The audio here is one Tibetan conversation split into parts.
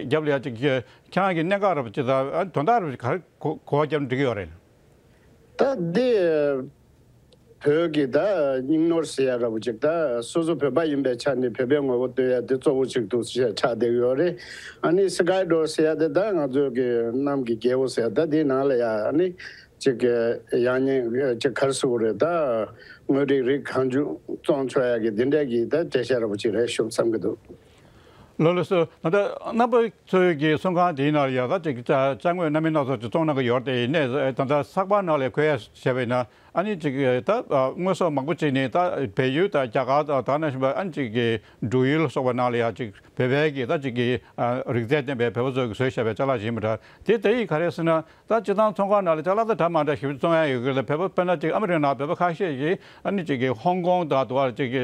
རྒྱབ་ལ་ཡ། ཁྱེད་རང་གི་གནས་འགའ་རུ་ཅི་ལྟར་དོན་དག་རུ་གར་གོ་བ་རྒྱབ་འགྲིག་གི་ཡོད་རེད། ད་འདི་བོད་ཀྱི་ད་སྙིང་ནོར་ཟེར་ཡ་ར་བུ་ཅིག་ད་སོ་སོ་བོད་པ་ཡིན་པའི་ཆ་ནས་བོད་པའི་ངོ་བོ་སྟོན་ཡ་དེ་གཙོ་བོ་ཅིག་འདུག་ཞེས་ཆགས་བསྡད་གི་ཡོད་རེད། ཨ་ནི Sky Door ཟེར་ཡ་དེ་ད་ང་ཚོའི་གི་གནམ་གི་རྒྱལ་བོ་ཟེར་ད་དེའི་ནང་ལ་ཡ་ནི་ཅིག་གི་ཡང་སྙིང་ཅིག་གར་སུ་བོ་རེད་ད་དངོས་རིགས་རིགས་གང་བྱུང་བཙོང་ཆོག་ཡ་གི་དེ་འདྲས་གི་ད་བྲེད་ཤ་ར་བུ་ཅིག་རེད་ཤོབ་བསམ་གི་འདུག། ལོ་ལོ་སུ་ད་ལྟ་རྣམ་པ་ཚོས་ཀྱི་གསུང་ཁང་དེའི་ནང་ལ་ཡར་ས་ཅིག་བཅའ་བཅའ་དངོས་སྣ་མའི་སྣ་ཚོགས་ཀྱི་བཙོང་གནང་གི་ཡོད་རེད་དེ་ནས་ད་ལྟ་ས་པ་ནག་ལས་ཁོད་ཡ་བྱས་པའི་ནང་ཨ་ནི་ཅིག་ད་དངོས་ཟོག་མང་པོ་ཅིག་ནི་ད་བལ་ཡུལ་དང་རྒྱ་གར་དང་དར་ནས་བཞིན་པ་ཨ་ནི་ཅིག་གི་འབྲུག་ཡུལ་ལ་སོགས་པ་ནང་ལ་ཡར་ཅིག་བལ་བལ་གྱི་ད་ཅིག་གི་རིག་རྩལ་ལྡན་པའི་བལ་པོ་ཚོས་ཀྱི་ཟོས་བཞག་པའི་ཅ་ལག་བཞིན་པ་འདྲ་དེ་དེ་ཡིས་ག་རེ་ཟེར་ན་ད་སྤྱི་ཚང་ཚོང་ཁང་ནང་ལ་ཅ་ལག་ད་གྲ་མང་འདྲ་ཞིབ་བཙོང་ཡ་ཡོད་གི་ལ་བལ་པོ་དཔེར་ན་ཅིག་ཨ་མི་རི་ཀ་ནང་བལ་པོ་ཁ་ཤས་ཀྱིས་ཨ་ནི་ཅིག་གི་ཧོང་ཀོང་དང་དུ་བར་ཅིག་གི་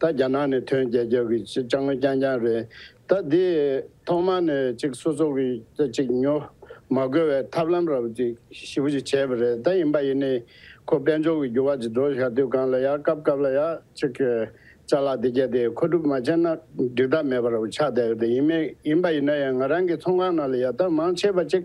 ད་རྒྱ་ནག་ནས་ཐོན་རྒྱལ་ཁབ་ཀྱི་ཅི་ལྕང་རྐྱང་རྐྱང་རེད་ད་འདི་ཐོག་མ་ནས་ཅིག་སོ་སོ་གི་ཅིག་ཉོ་མ་དགོས་བའི་ཐབས་ལམ་ར་བ་ཅིག་ཞིབ་བྱེད་བྱས་པ་རེད་ད་ཡིན་པ་ཡིན་ནི་ཁོ་དཔལ་འབྱོར་གི་འགྱུར་བ་ཅིག་འགྲོ་བཞག་དུས་གང་ལ་ཡ་སྐབས་སྐབས་ལ་ཡ་ཅིག་བྱ་ལ་འདི་སྐད་དེ་མཁོ་སྒྲུབ་མ་བྱས་ན་འགྲིག་ཐབས་མེད་པ་ར་བ་ཆགས་བསྡད་ཡོད་ད་ཡིན་མེད་ཡིན་པ་ཡིན་ན་ཡང་ང་རང་གི་ཚོང་ཁང་ནང་ལ་ཡ་ད་མང་ཆེ་བ་ཅིག་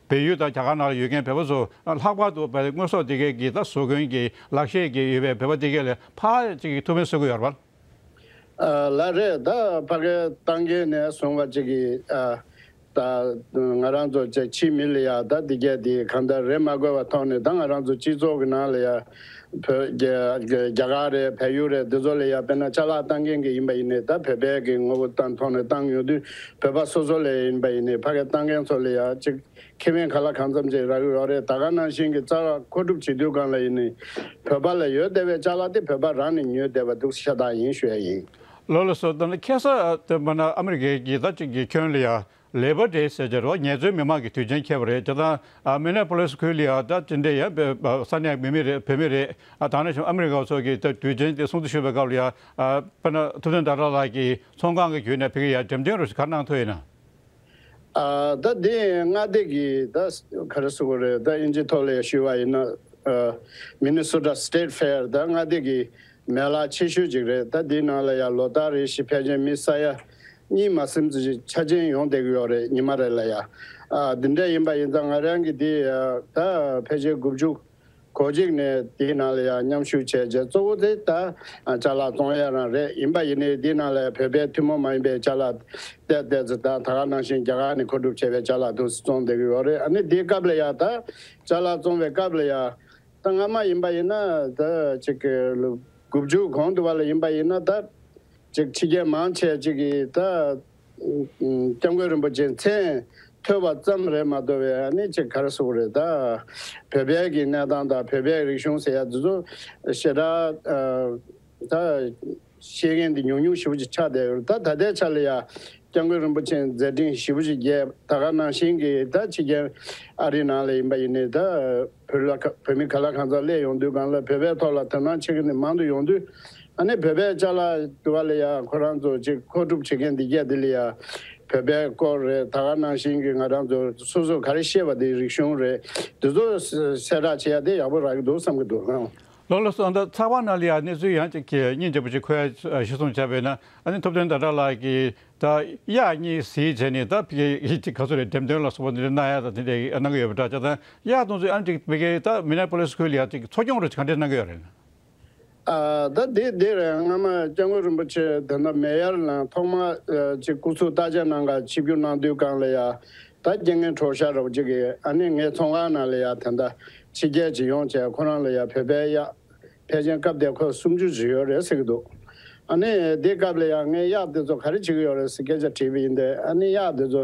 བལ་ཡུལ་དང་རྒྱ་གར་ནང་ལ་ཡོད་མཁན་བལ་པོ་ཚོ་ལྷག་པར་དུ་བལ་དངོས་ཟོག་སྡེ་དགེ་གི་ད་གཟོད་དགོན་གྱི་ལག་ཤེས་ཀྱི་ཡོད་པའི་བལ་པོ་སྡེ་དགེ་ལས་ཕ་གཅིག་གི་ཐུགས་ཕན་གསོས་ཀྱི་ཡོད་རེད། ལ་རེད་ད་ཕ་གི་སྟང་གི་ནས་བཟུང་བ་གཅིག་གི་ད་ང་རང་ཚོ་བཅས་ཕྱིའི་མི་ལ་ཡ་ད་སྡེ་དགེ་འདི་གང་ད་རེད་མ་དགོས་པ་ཐོག་ནས་ད་ང་རང་ཚོ་སྤྱི་ཚོགས་ཀྱི་ནང་ལ་ཡ་བོད། རྒྱ་གར་རེད་བལ་ཡུལ་རེད་འདི་ཚོ་ལས་ཡག་དཔེར་ན་ལྕགས་ལག་བཏང་མཁན་གྱི་ཡིན་པ་ཡིན་ནའི་ད་བོད་པའི་གི་ངོ་བོ་ལྟ་མཐོང་ནས་བཏང་ཡོང་དུས་བོད་པ་སོ་སོ་ལས་ཡིན་པ་ཡིན་ནའི་ཕ་གས་བཏང་མཁན་ཚོ་ལས་ཡག་ཅིག་ཁེ་བན་ག་ལ་གང་འཚམ་ཅིག་རག་གི་རོག་རེད་ད་ག་ནང་བཞིན་གི་རྩ་རག་མཁོ་སྒྲུབ་བྱེད་དུས་གང་ལ་ཡིན་ནའི་བོད་པ་ལ་ཡོད་བསྡད་པའི་ལྕགས་ལག་དེ་བོད་པ་རང་ནས་ཉོས་བསྡད་པ་འདུག་ཤ་སྟག་ཡིན་ཤོད་ཡིན། ལོ་ལ་སོ་ལྟ་ན་ཁེ་སར་ཨ་སྟོན་པ་ན་ཨ་མི་རི་ཀའི་གི་ད་གཅིག་གི་ཁྱོད་ལས་ཡག་ལེ་བར་ཏེ་ཟེར་གྱི་རོ་ངས་ཚོའི་མི་མང་གི་དུས་ཆེན་ཁྱེར་བ་རེད་ཅེ་ད་ཨ་མེ་ནེ་པོ་ལེ་སི་ཁུལ་ལི་ཨ་ད་ཅི་འདྲའི་ཡ་བེ་ས་ནས་མི་མི་རེད་བོད་མི་རེད་ཨ་ད་ནས་བྱུང་ཨ་མི་རི་ཀའོ་ཚོ་གི་ད་དུས་ཆེན་དེ་སྲུང་བརྩི་ཞུ་བའི་སྐབས་ལ་ཡ་བེ་ན་ཐུབ་བསྟན་ད་ར་ལགས་ཀྱིས་ཚོང་ཁང་གི་བརྒྱུད་ནས་ཕེ་གི་ཡ་འགྲེམས་སྟེང་རུ་ཞིག་གར་གནང་ཐོས་ཡིན་ན། ད་དེ་སྔ་ལྟས་ཀྱི་ད་ག་རེ་སུ་གུ་རེ་ད་ཨིན་ཇི་ཐོ་ལེ་ཞུ་བ་ཡིན་ན། མི་ནི་སུ་ཏྲ State Fair ད་སྔ་ལྟས་ཀྱི་མེ་ལ་ཆེ་ཤོས་ཅིག་རེད་ད་དེའི་ནང་ལ་ཡ་ལོ་ད་རེ་ཞིག་ཕལ་ཆེན་མི་ས་ཡ་གཉིད་མ་སེམས་ཀྱི་ཆ་ཅན་ཡོང་བསྡད་ཀྱི་ཡོད་རེད་ཉི་མ་རེ་ལ་ཡ། འདི་འདྲ་ཡིན་པ་ཡིན་ཙང་ང་རང་གིས་དེ་ད་ཕལ་ཆེར་དགུ་བཅུ་གོ་གཅིག་ནས་དེའི་ནང་ལ་ཡ་མཉམ་ཞུགས་བྱས་རྗེས་གཙོ་བོ་དེ་ད་ལྕགས་ལ་བཙོང་ཡ་རང་རེད་ཡིན་པ་ཡིན་ནའི་དེའི་ནང་ལ་ཡ་བོད་པའི་ཐུན་མོང་མ་ཡིན་པའི་ལྕགས་ལ་བལྟས་བལྟས་ཚེ་ད་ད་ག་ནང་བཞིན་རྒྱ་གར་ནས་མཁོ་སྒྲུབ་བྱས་པའི་ལྕགས་ལ་དུས་སུ་བཙོང་བསྡད་ཀྱི་ཡོད་རེད་ཨ་ནི་དེའི་སྐབས་ལ་ཡ་ད་ལྕགས་ལ་བཙོང་བའི་སྐབས་ལ་ཡ། ད་སྔ་མ་ཡིན་པ་ཡིན་ན་ད་ཅིག་གི་ལོ་དགུ་བཅུ་གོང་དུ་བ་ལ་ཡིན་པ་ཡིན་ན་ད། ཅིག་ཕྱི་རྒྱལ་མང་ཆེ་གཅིག་གིས་ད་སྐྱབས་མགོན་རིན་པོ་ཆེ་མཚན་ཐོས་པ་ཙམ་རེད་མ་གཏོགས་པའི་ཨ་ནི་ཅིག་གར་གསུག་པ་རེད་ད། བོད་པའི་གི་གནས་སྟངས་དང་བོད་པའི་རིག་གཞུང་ཟེར་ཡ་འདི་ཚོ་ཞེ་དྲག་ད། ཤེས་མཁན་འདི་ཉུང་ཉུང་ཞིབ་པོ་ཅིག་ཆགས་བསྡད་ཡོད་རེད་ད་ད་ལྟའི་ཆ་ལ་ཡ་སྐྱབས་མགོན་རིན་པོ་ཆེ་མཛད་འཕྲིན་ཞིབ་པོ་ཅིག་རྒྱས་ད་ག་ནང་བཞིན་གི་ད་ཕྱི་རྒྱལ་ཨ་རི་ནང་ལ་ཡིན་པ་ཡིན་ནི་ད་བོད་ལ་བོད་མི་ག་ལ་གང་ཟག་སླེ་ཡོང་དུས་གང་ལ་བོད་པའི་ཐོག་ལ་དོན་སྣང་ཆེ་གི་ནི་མང་དུ་ཡོང་དུས་ཨ་ནི་བོད་པའི་ལྕགས་ལ་དུ་བ་ལ་ཡ་ཁོ་རང་ཚོ་ཅིག་མཁོ་སྒྲུབ་བྱེད་མཁན་འདི་རྒྱ་འདི་ལ་ཡ་བོད་པའི་སྐོར་རེད་ད་ག་ནང་བཞིན་གྱི་ང་རང་ཚོ་སོ་སོ་ག་རེ་ཤེས་པ་འདི་རིག་གཞུང་རེད་འདི་ཚོ་གསལ་བསྒྲགས་བྱེད་ཡ་དེ་ཡག་པོ་རག་གི་འདུག་བསམ་གི་འདུག། ལོ་ལོ་སོགས་འདི་ཚགས་པར་ནང་ལ་ཡ་གནས་ཚུལ་ཡང་ཅིག་གྱི་སྙིང་རྗེ་པོ་ཅིག་ཁོའི་གཞི་བཟུང་བྱས་པས་ན་ཨ་ནི་ཐུབ་བསྟན་ཟླ་གྲགས་ལགས་ཀྱི་ད་ཡ་གཉིས་ཟིག་བྱས་ནས་ད་ཕི་གའི་ཅིག་ག་ཚོད་རེད་འགྲེམས་སྟོན་ལ་སོགས་པ་འདི་རེ་གནང་ཡ་ད་དེ་འདྲས་གནང་གི་ཡོད་པ་འདྲ་ཅག་ད་ཡ་གཏོང་ཚུལ་ཨ་ནི་ཅིག་ཕི་གའི་ད་མི་ནེ་པོ་ལེ་སི་ཁུལ་ལ་ཡ་ཅིག་འཚོ་སྐྱོང་རེ་གང་འདྲས་གནང་གི་ཡོད་རེད། ད་དེ་འདིར་སྔ་མ་སྐྱབས་མགོན་རིན་པོ་ཆེ་དེ་འདྲ་མེད་ཡར་ལངས་ཐོག་མ་ཅིག་སྐུ་ཚུགས་བརྟག་དཔྱད་གནང་ག་ཕྱི་རྒྱུ་གནང་དུས་གང་ལ་ཡ་ད་རྐྱེན་ངན་གྲོགས་ཤ་རོགས་གཅིག་གི་ཨ་ནི་ངའི་ཚོང་ཁང་ནང་ལ་ཡ་དེ་འདྲ་ཕྱི་རྒྱལ་གྱི་ཡོང་བྱས་ཁོ་རང་ལ་ཡ་བོད་པའི་གཡག་ཕལ་ཆེན་སྐབས་དེ་ཁོས་སུམ་ཅུ་བཞི་ཡོད་རེད་ཟེར་གྱི་འདུག་ཨ་ནི་དེ་སྐབས་ལ་ཡ་ངའི་གཡག་དེ་ཚོ་ག་རེ་བྱེད་ཀྱི་ཡོད་རེད་ཟེར་སྐད་ཆ་དྲིས་པ་ཡིན་ཏེ་ཨ་ནི་གཡག་དེ་ཚོ་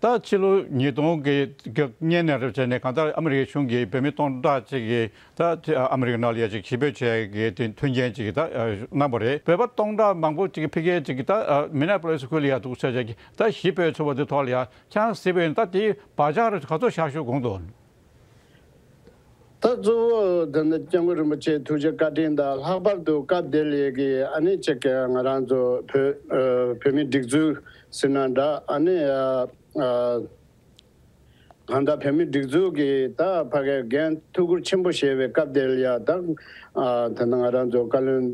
ད་ཕྱི་ལོ་ཉིས་སྟོང་གི་སྙན་ནས་རེབ་ཚེས་ནས་གང་ལྟར་ཨ་མི་རི་ཀའི་གཞུང་གིས་བོད་མི་སྟོང་ཕྲག་ཅིག་གིས་ད་ཨ་མི་རི་ཀའི་ནང་ལ་ཡ་ཅིག་ཞི་འབོད་བྱས་ཀྱི་དེ་མཐུན་རྐྱེན་ཅིག་ད་གནང་བ་རེད་བོད་པ་སྟོང་ཕྲག་མང་པོ་ཅིག་ཕི་གས་ཅིག་ད་མི་ནག་པོ་ལས་སུ་ཁུལ་ལ་ཡ་འདུག་ཟེར་བྱས་ཀྱི་ད་ཞི་འབོད་ཚུགས་པ་དེ་ཐོག་ལ་ཡ་ཆང་བཟི་བས་ད་དེའི་བག་ཆགས་རེ་ག་ཚོད་བཞག་ཞུ་དགོངས་དོན། ད་གཙོ་བོ་འདི་ནི་སྐྱབས་མགོན་རིན་པོ་ཆེའི་ཐུགས་རྗེ་བཀའ་དྲིན་དང་ལྷག་པར་དུ་སྐབས་བདེ་ལེགས་ཀྱི་ཨ་ནེ་གཅིག་གིས་ང་རང་ཚོ་བོད་མི་སྒྲིག་འཛུགས་ཟེར་ན་འདྲ་ཨ་ནེ། གང་ལྟར་བོད་མི་སྒྲིག་འཛུགས་ཀྱི་ད་བར་གྱི་འགན་ཐུགས་ཁུར་ཆེན་པོ་བཞེས་པའི་སྐབས་བདེ་ལེགས་དང། ད་ནི་ང་རང་ཚོ་བཀའ་བློན་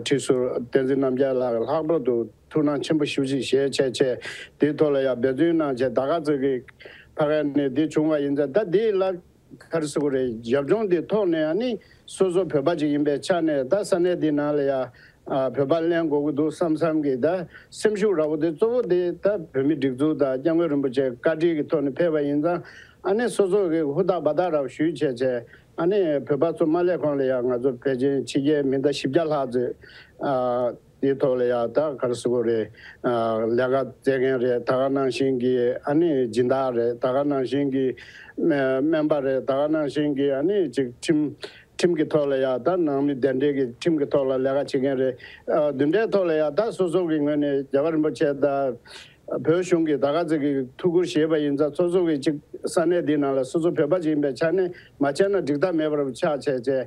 ཁྲི་ཟུར་བསྟན་འཛིན་རྣམ་རྒྱལ་ལགས་ལྷག་པར་དུ་ཐུགས་སྣང་ཆེན་པོ་ཞུ་ཞིག་ཞེས་བྱས་བྱས། དེའི་ཐོག་ལ་ཡང་འབད་བརྩོན་གནང་བྱས་ད་ག་ཚོད་ཀྱི་ཕ་ག་ནས་དེ་བྱུང་བ་ཡིན་ཚ་ད་དེའི་ལ་ཁར་སུ་གུ་རེ་རྒྱབ་ལྗོངས་དེའི་ཐོག་ནས་ཡང་ནི་སོ་སོ་བོད་པ་ཅིག་ཡིན་པའི་ཆ་ནས་ད་ས་གནས་དེའི་ནང་ལ་ཡང་བོད་པ་གླན་དགོས་ཀྱི་འདུག་བསམ་བསམ་གྱི་ད་སེམས་ཤུགས་ར་བོ་དེ་གཙོ་བོ་དེ་ད་བོད་མི་སྒྲིག་འཛུགས་དང་སྐྱབས་མགོན་རིན་པོ་ཆེ་བཀའ་དྲིན་གྱི་ཐོག་ནས་ཕེབས་པ་ཡིན་ཙང་ཨ་ནི་སོ་སོ་ཀྱི་ཧུར་ཐག་བ་ཐག་ར་བོ་ཞུས་བྱས་བྱས་ཨ་ནི་བོད་པ་ཚོ་མ་སླེབས་གོང་ལ་ཡང་ང་ཚོ་བོད་ཆེན་ཕྱི་རྒྱལ་མི་ད་བཞི་བརྒྱ་ལྷག་ཚོས་ཨ། དེའི་ཐོག་ལ་ཡང་ད་གར་སུ་གུ་རེད། ལས་ཀ་བཙལ་མཁན་རེད་ད་ག་ནང་བཞིན་གྱི་ཨ་ནི་སྦྱིན་བདག་རེད་ད་ག་ནང་བཞིན་གྱི་སྨན་པ་རེད་ད་ག་ནང་བཞིན་གྱི་ཨ་ནི་ཅིག་ཁྲིམས་ཁྲིམས་ཀྱི་ཐོག་ལ་ཡང་ད་ནང་མི་གདན་འདྲེན་གྱི་ཁྲིམས་ཀྱི་ཐོག་ལ་ལས་ཀ་བྱེད་མཁན་རེད། བདུན་ལྟའི་ཐོག་ལ་ཡང་ད་སོ་སོ་གྱི་ངོས་ནས་རྒྱལ་བ་རིན་པོ་ཆེ་ད་བོད་གཞུང་གི་ད་ག་ཟེ་གི་ཐུགས་ཁུར་བཞེས་པ་ཡིན་ཚ་སོ་སོ་གྱི་ཅིག་ས་གནས་འདི་ནང་ལ་སོ་སོ་བོད་པ་ཅིག་ཡིན་པའི་ཆ་ནས་མ་བྱས་ན་འགྲིག་ཐབས་མེད་པར་ཆགས་བྱས་བྱས